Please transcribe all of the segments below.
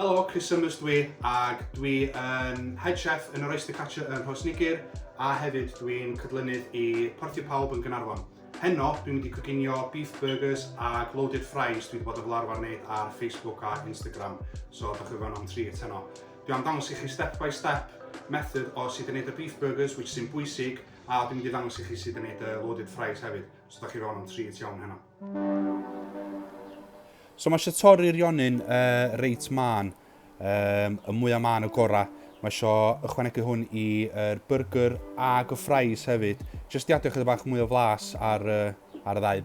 Helo, Chris Summers dwi, ac dwi yn head chef yn yr Oyster Catcher yn Rhos Nigir, a hefyd dwi'n cydlynydd i Portio Pawb yn Gynarfon. Heno, dwi'n mynd i coginio beef burgers a loaded fries dwi wedi bod yn fel arfer wneud ar Facebook a Instagram, so da chi fan o'n tri heno. Dwi am dangos i chi step by step method o sut i wneud y beef burgers, which sy'n bwysig, A dwi'n mynd i ddangos i chi sut i wneud uh, loaded fries hefyd, os ydych chi fewn am treat iawn heno. So mae eisiau torri'r rionyn uh, reit man, um, y mwyaf man y gorau. Mae eisiau ychwanegu hwn i'r burger ag y fries hefyd, jyst i adio chyda bach mwy o flas ar, uh, ar y ddau.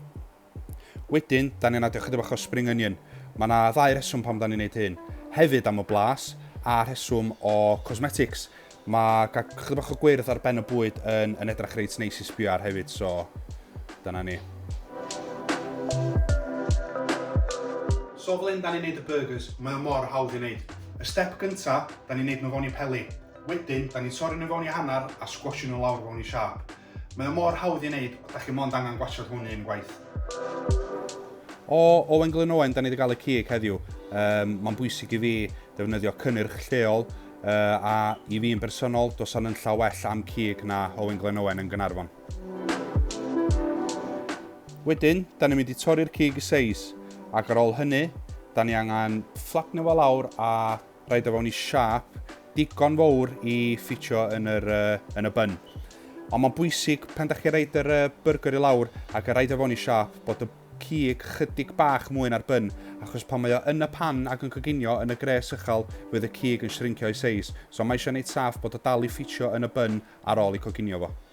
Wedyn, dan ni'n adio chydig bach o spring onion. Mae yna ddau rheswm pam dan ni'n neud hyn. Hefyd am y blas, a rheswm o cosmetics. Mae cael chydig bach o gwyrdd ar ben y bwyd yn, yn edrach reit neis i sbio ar hefyd, so dyna ni. So fel hyn dan ni'n neud y burgers, mae o mor hawdd i neud. Y step gynta, dan ni'n neud nhw fewn i peli. Wedyn, dan ni'n torri nhw fewn i hanner a sgwasio nhw lawr fewn i siâp. Mae o mor hawdd i wneud, da chi mond angen gwachod hwn un gwaith. O Owen Glyn Owen, da ni wedi cael y cig heddiw. Um, Mae'n bwysig i fi ddefnyddio cynnyrch lleol, uh, a i fi'n bersonol, dos o'n llaw well am cig na Owen Glyn Owen yn Gynarfon. Wedyn, da ni'n mynd i torri'r cig i seis, ac ar ôl hynny, da ni angen fflatnio fo lawr a rhaid o fewn i siâp digon fawr i ffitio yn, yr, uh, yn y bun. Ond mae'n bwysig pan da chi'n rhaid yr uh, burger i lawr ac y rhaid o fewn i siâp bod y cig chydig bach mwy na'r bun, achos pan mae o yn y pan ac yn coginio yn y gres uchel, fydd y cig yn shrincio i seis. So mae eisiau gwneud saff bod o dal i ffitio yn y bun ar ôl i coginio fo.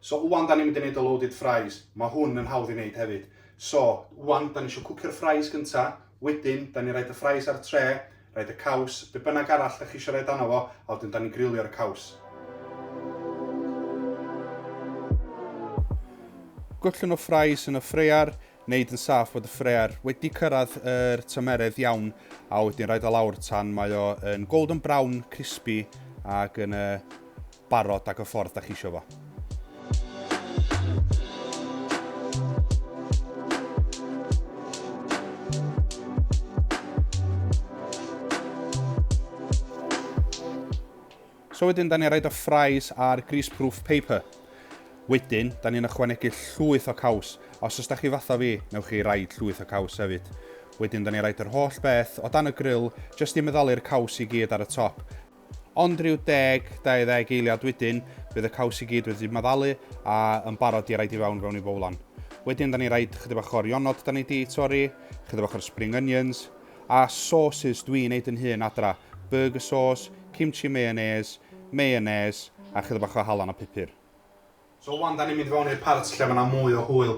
So ŵan dan ni'n mynd i neud y loaded fries, ma hwn yn hawdd i neud hefyd. So, ŵan dan ni isio cwcio'r fries gynta, wedyn dan ni'n rhaid y fries ar y tre, rhaid y caws, be bynnag arall dach chi isio roid arno fo, a wedyn dan ni'n grilio'r caws. Gollwng y fries yn y ffraear, neud yn saff bod y ffraear wedi cyrraedd yr tymeredd iawn, a wedyn rhaid o lawr tan mae o yn golden brown, crispy, ac yn y barod ac y ffordd da chi isio fo. So wedyn, da ni'n rhaid o fries ar greaseproof paper. Wedyn, da ni'n ychwanegu llwyth o caws. Os ys da chi fatha fi, newch chi raid llwyth o caws hefyd. Wedyn, da ni'n rhaid yr holl beth o dan y grill, jyst i meddalu'r caws i gyd ar y top. Ond rhyw deg, 20 eiliad wedyn, bydd y caws i gyd wedi maddalu a yn barod i raid i fewn fewn i fowlan. Wedyn 'da ni raid chydig bach o'r ionod 'da ni 'di torri, chydig bach o'r spring onions, a sauces dwi'n neud yn hun adra, burger sauce, kimchi mayonnaise, mayonnaise a chydig bach o halan a pupur. So wan da ni'n mynd i fewn i'r part lle mae yna mwy o hwyl.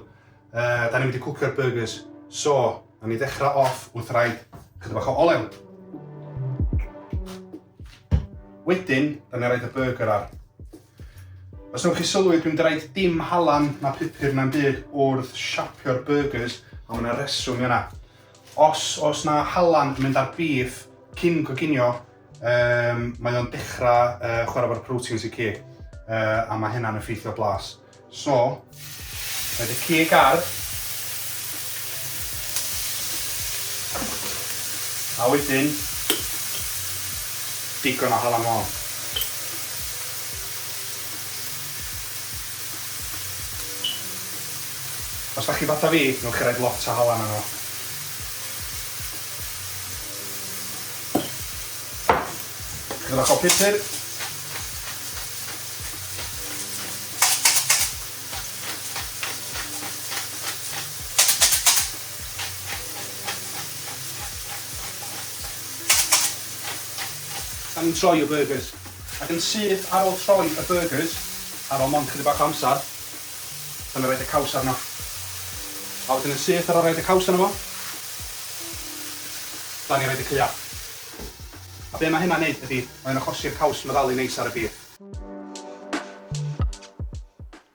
Uh, da ni'n mynd i cwcio'r burgers. So, na ni ddechrau off wrth rhaid chyda bach o olew. Wedyn, da ni'n rhaid y burger ar. Os ydych chi sylwi, dwi'n draed dim halan na pupur na'n byd wrth siapio'r burgers, a mae yna reswm yna. Os, os na halan yn mynd ar bif cyn goginio, Um, mae o'n dechrau uh, chwarae fo'r proteins y cig, uh, a mae hynna'n effeithio blas. So, mae dy cig ar, a wedyn, digon o halan môn. Os da chi fata fi, newch chi roed lot o halan yno. Gyda bach o pupur. Da ni'n troi y byrgys ac yn syth ar ôl troi y byrgys ar ôl mond chydig bach o amsar A mi roid y caws arno. A wedyn yn syth ar ol roid y caws arno fo. Da ni roid y caeau. A be ma hynna'n neud ydi, mae o'n achosi'r caws meddalu neis ar y bîr.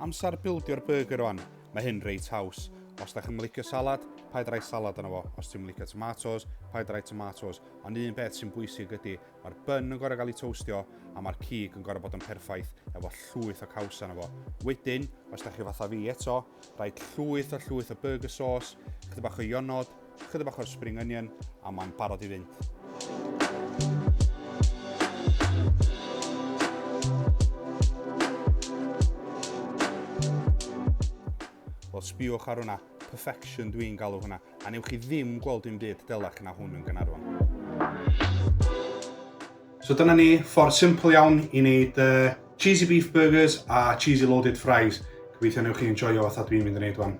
Amser bildio'r byrgyr wan. Mae hyn reit haws. Os dach chi'm yn licio salad, paid roi salad arno fo. Os ti'm yn licio tomatos, paid roi tomatos. Ond un peth sy'n bwysig ydi, Mae'r bun yn gorau gael ei toastio a mae'r cig yn gorau bod yn perffaith efo llwyth o caws arno fo. Wedyn, os da chi fatha fi eto, rhaid llwyth a llwyth o burger sauce, chydig bach o ionod, chydig bach o'r spring onion a mae'n barod i fynd. Wel, sbiwch ar hwnna. Perfection dwi'n galw hwnna. A newch chi ddim gweld dim byd delach na hwn yn Gaernarfon. So dyna ni, ffordd simple iawn i wneud uh, cheesy beef burgers a cheesy loaded fries. Gobeithio newch chi enjoyo fatha dwi'n mynd yn neud wan.